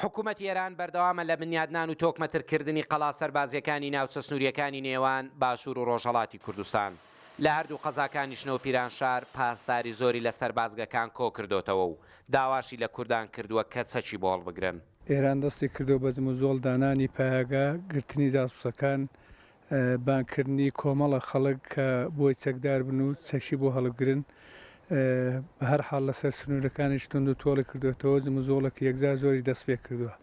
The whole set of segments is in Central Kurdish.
حکومەتی ئێران بەردەوامە لە بنیادنان و تۆکمەترکردنی قەڵا سەربازییەکانی ناوچە سنوورییەکانی نێوان باشوور و ڕۆژهەڵاتی کوردستان، لە هەردوو قەزاکانیش نەوپیرانشار پاسداری زۆری لە سەربازگەکان کۆ کردۆتەوە و داواشی لە کوردان کردووە کە چەکی بۆ هەڵبگرن. ئێران دەستی کردووە بە جموجۆڵ دانانی پایەگا گرتنی جاسووسەکان بانگکردنی کۆمەڵە خەڵک کە بۆی چەکدار بن و چەکی بۆ هەڵبگرن. بەهەر حاڵ لەسەر سنوورەکانیش توندوتۆڵی کردووەتەوە، جموجۆڵێکی یەکجار زۆری دەستپێکردووە.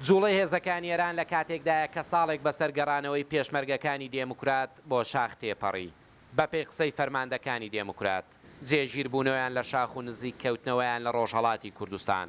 جووڵەی هێزەکانی ئێران لە کاتێکدایە کە ساڵێک بەسەر گەڕانەوەی پێشمەرگەکانی دێموکرات بۆ شاخ تێپەڕی. بەپێی قسەی فەرماندەکانی دێموکرات، جێگیربوونەوەیان لە شاخ و نزیک کەوتنەوەیان لە ڕۆژهەڵاتی کوردستان،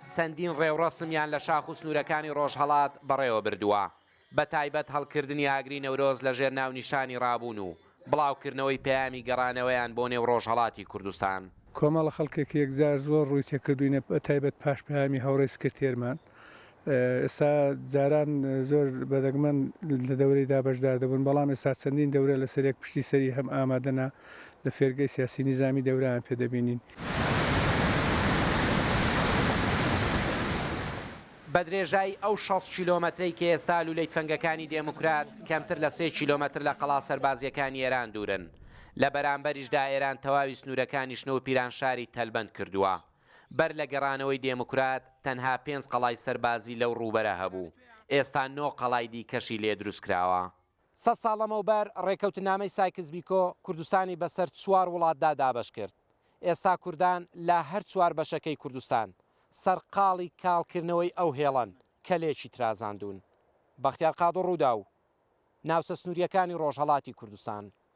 چەندین ڕێوڕەسمیان لە شاخ و سنوورەکانی ڕۆژهەڵات بەڕێوە بردووە، بەتایبەت هەڵکردنی ئاگری نەورۆز لەژێر ناونیشانی ڕابوون و بڵاوکردنەوەی پەیامی گەڕانەوەیان بۆ نێو ڕۆژهەڵاتی کوردستان. کۆمەڵە خەڵکە کە یەکجار زۆر ڕووی تێکردووینە، بەتایبەت پاش پەیامی هاوڕێی سکرتێرمان. ئێستا جاران زۆر بەدەگمەن لە دەورەیدا بەشدار دەبوون، بەڵام ئێستا چەندین دەورە لەسەریەک پشتی سەری هەم ئامادەنە. لە فێرگەی سیاسی نیزامی دەوران پێ دەبینین. بە درێژایی ئەو شەست کیلۆمەترەی کە ئێستا لوولەی تفەنگەکانی دێموکرات کەمتر لە سێ کیلۆمەتر لە قەڵا سەربازییەکانی ئێران دوورن، لە بەرامبەریشدا ئێران تەواوی سنوورەکانی شنۆ و پیرانشاری تەلبەند کردووە. بەر لە گەڕانەوەی دێموکرات تەنها پێنج قەڵای سەربازی لەو ڕووبەرە هەبوو، ئێستا نۆ قەڵای دیکەشی لێ دروست کراوە. سەد ساڵ لەمەوبەر ڕێکەوتنامەی سایکس بیکۆ کوردستانی بەسەر چوار وڵاتدا دابەش کرد، ئێستا کوردان لە هەر چوار بەشەکەی کوردستان سەرقاڵی کاڵکردنەوەی ئەو هێڵەن کە لێکی ترازاندوون. بەختیار قادر رووداو، ناوچە سنوورییەکانی ڕۆژهەڵاتی کوردستان.